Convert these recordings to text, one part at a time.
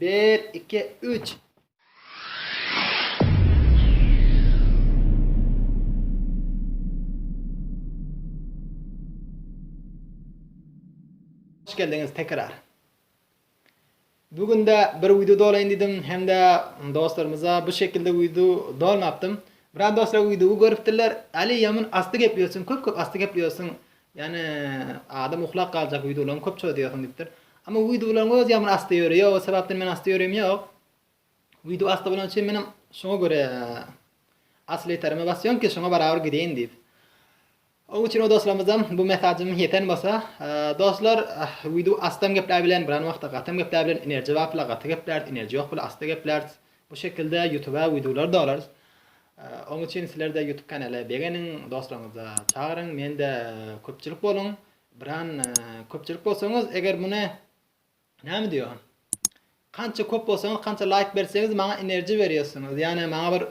Bir, iki, üç! Hoş geldiňiz tekrar. Bu günde bir wideo dolaýyn diýdim hem-de dostlarymyza bu şekilde wideo dolmapdym. Biraz dostlar wideo görüpdirler. Ali ýaman asty gepleýärsiň, köp-köp asty gepleýärsiň. Ýani adam uklap galjak wideolaryňy köp çözýärsiň diýipdir. Ama wideolaryň öz ýamyny asty ýöri ýok o sebapden men asty ýörim ýok. Wideo asty bolan üçin menem şoňa görä asly ýeterime basýan ki şoňa barabar gideýin diýip. O üçin o dostlarymyzam bu mesajym ýeten bolsa dostlar wideo astam gepläp bilen biran wagtda gatam gepläp bilen enerji bar pula gaty geplärt enerji ýok pula asty geplärt Bu şekilde ýutuba wideolar dolarys. Oň üçin sizlerde ýutup kanala begeniň, dostlaryňyza çagyryň, mende köpçülik boluň. Biran köpçülik bolsaňyz eger muny näme diýo? Kança köp bolsaňyz kança laýk berseňiz maňa enerji berýärsiňiz. Ýani maňa bir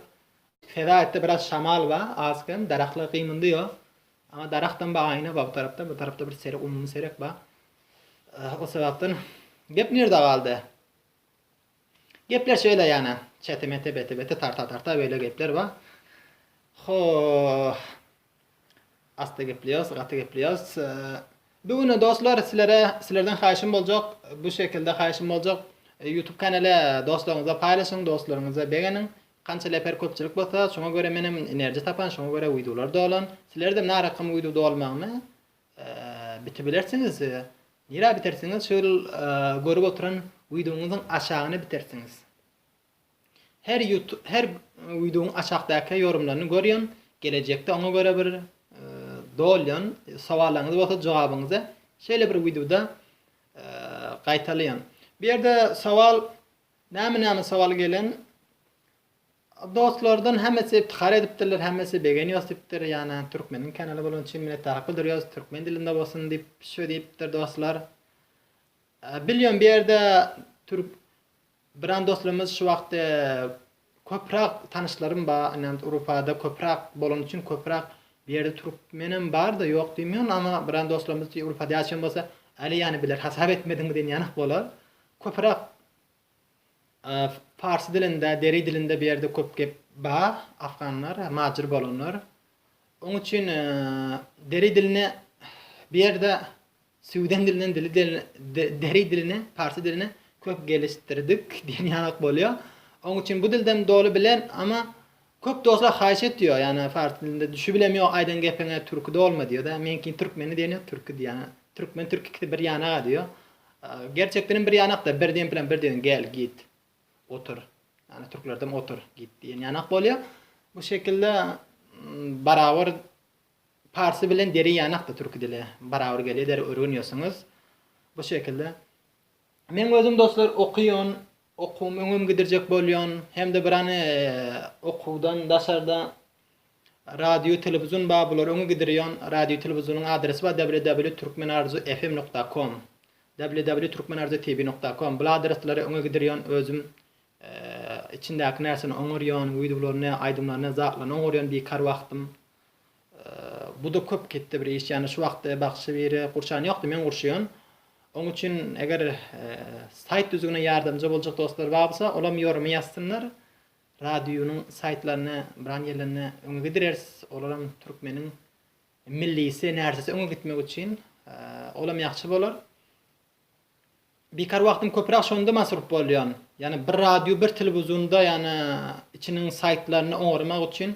feda etdi biraz şamal ba az kem darahlar gymyndy ýo. Ama darahdan ba aýna ba bu tarapda bu tarapda bir seri umumy serek ba. O sebapden gep nirde galdy? Gepler şeýle ýana, çete-mete, bete-bete, tarta-tarta beýle gepler bar. Ho-h. Asda gepleýäs, gaty gepleýäs. Bu güne dostlar sizlere sizlerden haýyşym boljak, bu şekilde haýyşym boljak. YouTube kanaly dostlaryňyza paýlaşyň, dostlaryňyza begeniň. Kança leper köpçülik bolsa, şoňa görä menem enerji tapan, şoňa görä wideolar dolan. Sizlerdem närakymy wideo dolmagyny Bitibilersiňiz we nirä bitersiňiz şu ýyl görüp oturan wideoňyzyň aşagyna bitersiňiz. Her her wideoň aşakdaky ýorumlaryny görýän, gelejekde oňa görä bir dolýan, sowallaryňyz bolsa jogabyňyzy şeýle bir wideoda gaýtalaýan. Bu ýerde sowal näme näme sowal gelen Dostlardan hemmesi yptyhar edipdirler hemmesi begenios dipdir ýana türkmeniň kanaly bolany üçin minnetdarlyk bildirýos türkmen dilinde bolsun dip şo dipdir dostlar bilýom bu ýerde türk biran dostlarymyz şu wagt köprak tanyşlarym ba inen urupada köprak bolany üçin köprak bu ýerde türkmenem barda ýok diýmeon ama biran dostlarymyz urupada ýaşaýan bolsa ali ýany biler hasap etmediňmi diýen ýanak bolar köprak Parsy dilinde, deri dilinde bu ýerde köp gep bar, afganlar, majur bolanlar. Oň üçin deri dilini bu ýerde süwden dilinden dili deri dilini, parsy dilini köp gelişdirdik diýen ýanak bolýar. Oň üçin bu dilden doly bilen, amma Köp dostlar haýyş etýär ýana fars dilinde düşi bilem ýok aýdan gepiňe türki dolma diýýärda meňkin türkmeni diýen ýok türki diýýär türkmen türki ikisi bir ýanaga diýýär gerçekdenem bir ýanakda bir diýen plan bir diýen gel git otur ýani türklerdem otur git diýen ýanak bolýar bu şekilde barabar parsy bilen deri ýanakda türki dili barabar gelýär der örgünýärsiňiz bu şekilde men özüm dostlar okýan okuwymy öňem gidirjek bolýan hem-de bir any okuwdan daşarda radio telewizyon bar bulary öňe gidirýan radio telewizyonyň adresi bar www.turkmenarzu-fm nokta com www.turkmenarzu-tv nokta com bul adreslere öňe gidirýan özüm içindäki närsini oňarýan wideolaryny aýdymlaryny zatlany oňarýan bikar wagtym Bu-da köp ketde bir iş, ýagny şu wagtda bagşy biri gurçan ýokdy, men gurşuýan. Oň üçin eger saýt düzügine ýardamja boljak dostlar bar bolsa, olam ýorumy ýazsynlar. Radionyň saýtlaryny biran ýerlerine öňe gidireris. Olaram türkmeniň millisi närsesi öňe gitmek üçin. Olam ýagşy bolar. Bikar wagtym köpüräk şonda masrup bolýan. Ýagny bir radio bir telewizionda ýagny içiniň saýtlaryny oňarmak üçin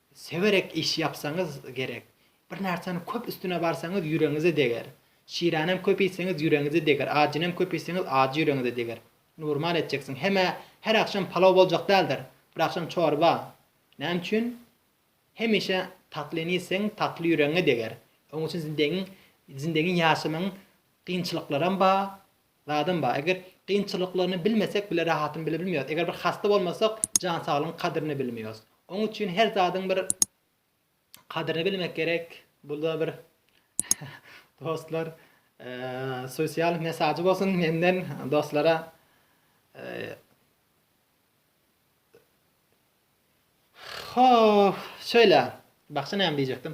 Sewerek iş ýapsaňyz gerek. Bir narsany köp üstüne barsaňyz ýüregiňize deger. Şiränem köp iýseňiz ýüregiňize deger, ajynem köp iýseňiz ajy ýüregiňize deger. Nurmal etjeksiň. Hemä her agşam palaw boljak däldir. Bir agşam çorba. Näme üçin? Hemişe tatlyny iýseň tatly ýüregiňe deger. Oň üçin zindegiň zindegiň ýaşamagyň kynçylyklaram ba, Zadam bar, eger kynçylyklaryny bilmesek bile rahatyny bilebilmeýos, eger bir hassa bolmasak jan saglygyň kadrini bilmeýos. Oň üçin her zadyň bir kadrini bilmek gerek. Bula bir dostlar sosial mesajy bolsun menden dostlara. Ho, şöyle. Baksa näme diýjekdim.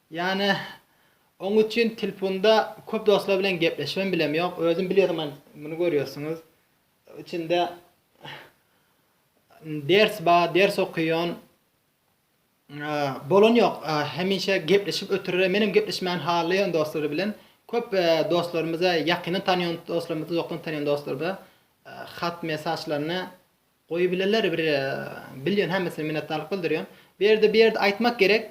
Ýane, oň üçin tilpunda köp dostlar bilen gepleşibem bilem ýok. Özüm bilýärmen, muny görýärsiňiz. Içinde ders ba, ders okyýan. Bolan ýok, hemişe gepleşip ötürere, menem gepleşmäni halaýan dostlar bilen. Köp dostlarymyza, ýakyndan tanýan dostlarymyza, uzakdan tanýan dostlarymyza hat mesaçlaryny Goýubileler bir bilýon hemmesine minnetdarlyk bildirýon. Bu ýerde bir ýerde aýtmak gerek.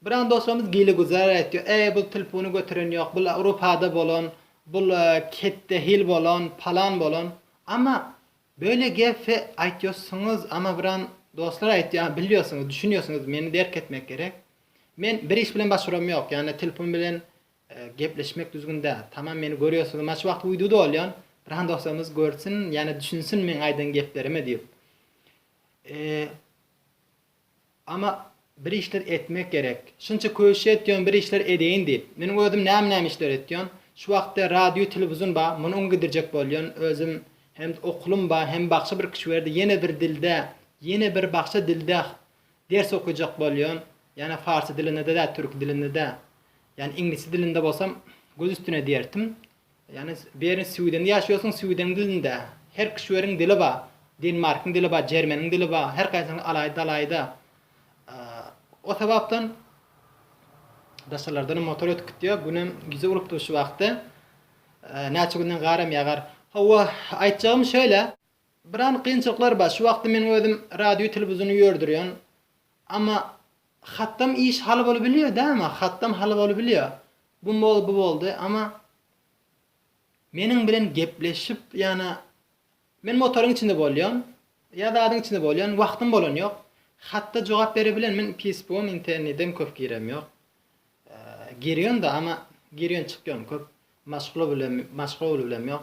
Biran dostlarymyz gile-guzar aýtýar. Äý bul tilpuni göteren ýok, bul Awropada bolan, bul ketde hil bolan, palan bolan. Amma böyle gefe aýtýosuňyz, amma biran dostlar aýtýar, bilýosuňyz, düşünýosuňyz, meni derk etmek gerek. Men bir iş bilen başaram ýok, ýagny tilpun bilen Gepleşmek düzgün däl. Tamam meni görýärsiňiz maç wagty widuda bolýan. Pylan dostumyz görsün ýa-da düşünsin meň aýdan geplerimi diýip. Eee Ama bir işler etmek gerek. Şunça köşe etýän bir işler edeýin diýip. Meniň özüm näme näme işler etýän. Şu wagtda radio telewizun ba, muny öňe gidirjek bolýan. Özüm hem okulym ba, hem bakşa bir kişi berdi. Ýene bir dilde, ýene bir bakşa dilde ders okujak bolýan. Ýana farsy dilinde dä, türki dilinde dä. Ýani iňlisçe dilinde bolsam göz üstüne diýertim. Ýani beri swidende ýaşaýarsyň swideniň dilinde her kişweriň dili bar denmarkyň dili bar jermeniň dili bar her kaýsynyň alaýda alaýda o sebapdan daşarlardanam motor ötüp gitýär günem gije bolupdyr şu wagty näçe günden gar hem ýagar howwa aýtjagym şeýle Biran kynçylyklar bar şu wagtda men özüm radio telewizony ýördürýän amma hatdam iş haly bolup bilýär dä amma hatdam haly bolup bilýär bu boldy bu boldy amma meniň bilen gepleşip ýana men motoryň içinde bolýan ýa zadyň içinde bolýan wagtym bolan ýok hatda jogap bere bilen men pýspugam internedem köp girem ýok girýan da amma girýan çykýan köp maşgula bilen maşgula bilen ýok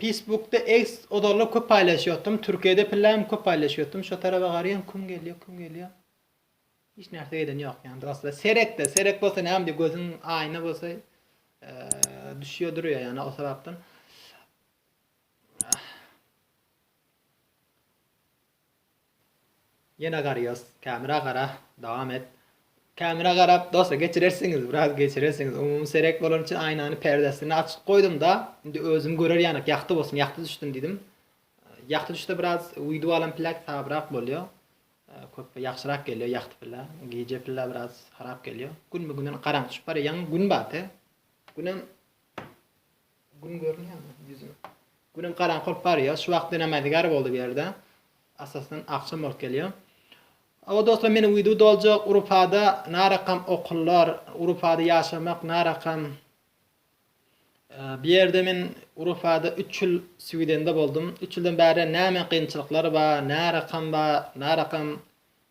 Peýsbukda eks ozallar köp paýlaşýotdym türkiýede pillem köp paýlaşýotdym şo tarapa garaýan küm gelýa küm gelýa hiç närse gelen ýok ýan dostlar serekde serek bolsa näme diýe gözüň aýna bolsa düşýä durýa ýana o sebapden Ýene garyos kamera gara dowam et. Kamera garap dosta geçirersiňiz biraz geçirersiňiz umumy serek bolany üçin aýnany perdesini açyk goýdumda indi özüm görer ýanak ýagty bolsun ýagty düşsün diýdim ýagty düşse biraz wideo alan pillek sabrak bolýo köp ýagşyrak gelýo ýagty pille gije pille biraz harap gelýo günbe günden garaňky düşüp barýa ýaňy gün bate günem Gün görünýärmi ýüzüň? Günem garaňky bolup barýar. Şu wagt diňe mäzigar boldy bu ýerde. Atasyn agşam bolup gelýär. Awa dostlar meniň wideo doljak Urupada narakam okullar, Urupada ýaşamak narakam. Bu ýerde men Urupada üç ýyl swidende boldum. Üç ýyldan bäri näme gynçylyklar bar, närakam bar, närakam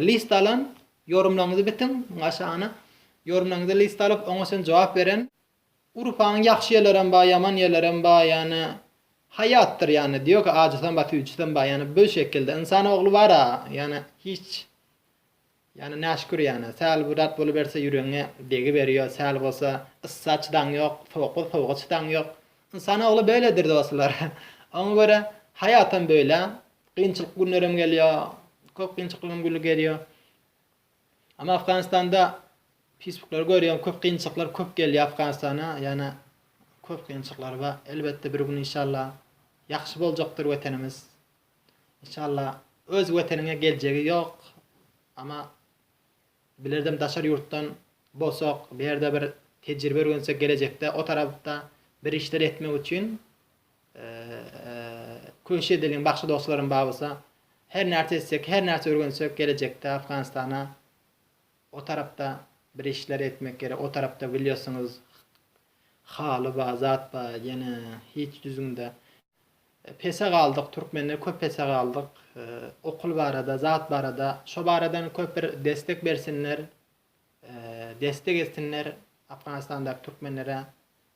List alan, ýorumlaryňyzy bitiň, muň aşagyna ýorumlaryňyzy list alyp, oňa çyn jogap beren. Urfanyň ýagşy ýerlerem bar, ýaman ýerlerem bar, ýagny haýatdyr ýagny, diýok ki ajysam bar, süýjisem bar, ýagny bü şekilde. Ynsan ogly bar-a, ýagny hiç, ýagny näşükür ýagny, säl bir zat boluberse ýüregiňe degiberýär, säl bolsa yssa çydaň ýok, sowuk bolsa sowuga çydaň ýok. Ynsan ogly böledir dostlar. Oňa görä haýatam bölä, Kynçylyk günlerem gelýär. Köp kynçyklygam günde gelýär. Ama Afganistanda Facebook'lary görýän köp kynçylyklar köp gelýär Afganistana. Ýana köp kynçylyklar bar. Elbetde bir gün inşallah ýagşy boljakdyr wetenimiz. İnşallah öz weteniňe geljegi ýok. Ama bilerdim daşar ýurtdan bolsak, bir ýerde bir tejribe örgensek gelejekde o tarapda bir işler etmek üçin Köşe dilim bagşy dostlarym bar bolsa her närse etsek her närse örgensek gelejekde Afganistana o tarapda bir işler etmek gerek o tarapda bilýärsiňiz haly bar zat bar ýene hiç düzgünde pese galdyk türkmenler köp pese galdyk okul barada zat barada şo baradan köp bir destek bersinler destek etsinler Afganistandaky türkmenlere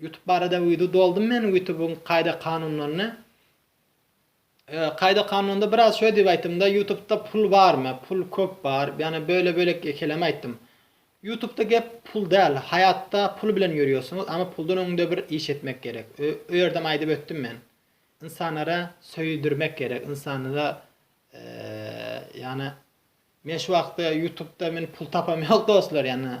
Ýutup barada wido doldum men ýutubyň kaýda kanunlaryny kaýda kanunlarynda biraz şöý diýip aýtdymda ýutubda pul barmy pul köp bar ýani böle bölek ekeleme aýtdym ýutubda gep pul däl haýatda pul bilen ýörýorsuňyz ama puldan öňde bir iş etmek gerek öýerdem aýdyp ötdüm men ynsanlara söýüdirmek gerek ynsanlara ýani men şu wagtda ýutubda men pul tapam ýok dostlar ýani.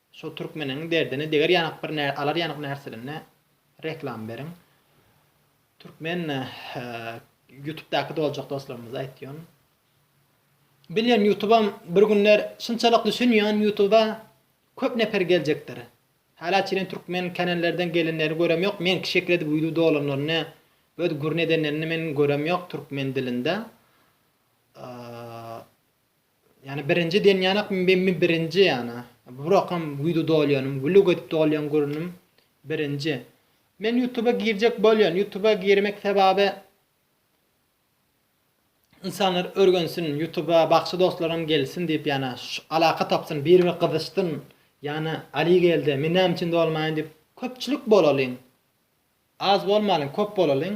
Şo türkmeniň derdine deger ýanak bir nä alar ýanak närselerine reklam beriň. Türkmen ýutubdaky doljak dostlarymyza aýtýan. Bilýän ýutubam bir günler şunçalyk düşünýän ýutuba köp neper geljekdir. Hala çenli türkmen kanallerden gelenleri görem ýok. Meňki şekil edip wideo dolanlaryny öz gürrüň edenlerini men görem ýok türkmen dilinde. Ýani birinji denýanak mmi birinji ýana burakam wido dolýanym wlug edip dolýan gurnym birinji men ýutuba girjek bolýan ýutuba girmek sebabi ynsanlar örgensin ýutuba bagşy dostlaram gelsin diýip ýana alaka tapsyn bir bir gyzyşsyn ýana ali geldi men näme üçin dolmaýyn diýip köpçülik bolalyň az bolmalyň köp bolalyň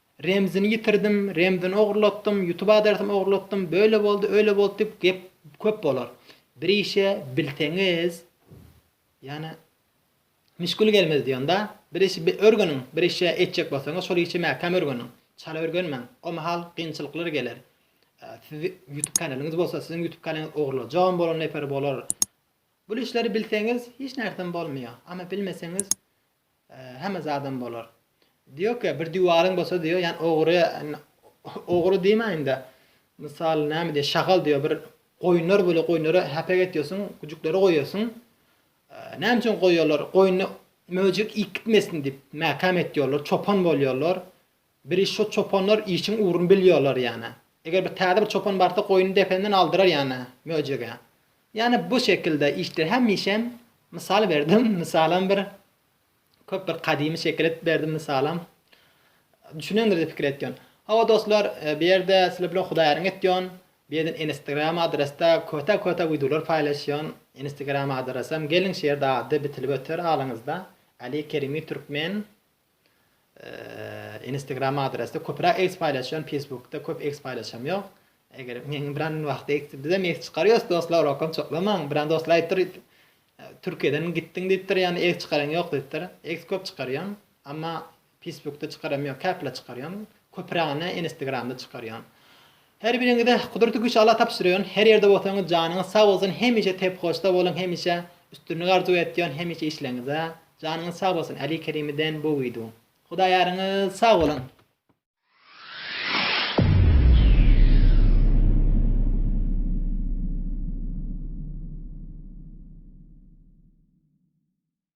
Remzini ýitirdim, remzini ogurlatdym, ýutub adresini ogurlatdym, böyle boldy, öýle boldy diýip gep köp bolar. Bir işe bilseňiz, ýani müşgül gelmez diýonda, bir işi örgeniň, bir işe etjek bolsaňyz şol işe mäkäm örgeniň, çala örgenmäň, o mahal kynçylyklar geler. Siz ýutub kanalyňyz bolsa, siziň ýutub kanalyňyz ogurlajagam bolan neper bolar. Bul işleri bilseňiz hiç närsem bolmaýar, amma bilmeseňiz Hemme zadam bolar. Diýoka bir diwaryň bolsa diýo ýan ogry ogry diýmäýindä mysal näme diýe şagal diýo bir goýunlar bolýa goýunlara häpek etýosuň gujuklary goýosuň näme üçin goýýolar goýny möjek iýip gitmesin diýip mäkäm etýolar çopan bolýolar Biri şo çopanlar işiň ugruny bilýärler ýane. Eger bir täze bir çopan barsa goýuny dependen aldyrar ýane möjege. Ýane bu şekilde işler hemişem mysal berdim mysalam bir köp bir gadymy şekil edip berdim mysalam. Düşünendir diýip pikir etýän. Hawa dostlar bu ýerde sizler bilen hudaýaryň etýän. Bu ýerden enestegram adresda köte köte wideolar paýlaşýan. Enestegram adresem geliň şu ýerde ady bitilip öter alyňyzda. Ali Kerimi Türkmen. Inistegram adresde köpüräk eks paýlaşýan pesbukda köp eks paýlaşam ýok eger meň biran wagty eks bizem eks çykarýos dostlar okam çoklamaň biran dostlar aýypdyr türkiýeden gitdiň diýipdir ýani eks çykaran ýok diýipdir eks köp çykarýan amma pesbukda çykaram ýok käpile çykarýan köpürägini inistegram da çykarýan Her biriňize Gudurty güç Allah tabşyrýan her ýerde bolsaňyz janyňyz sag bolsun hemişe tep hoşda boluň hemişe üstünlik arzuw etýän hemişe işleňize janyňyz sag bolsun Ali Kerimi den bu wido Hudaý ýaryňyz sag boluň.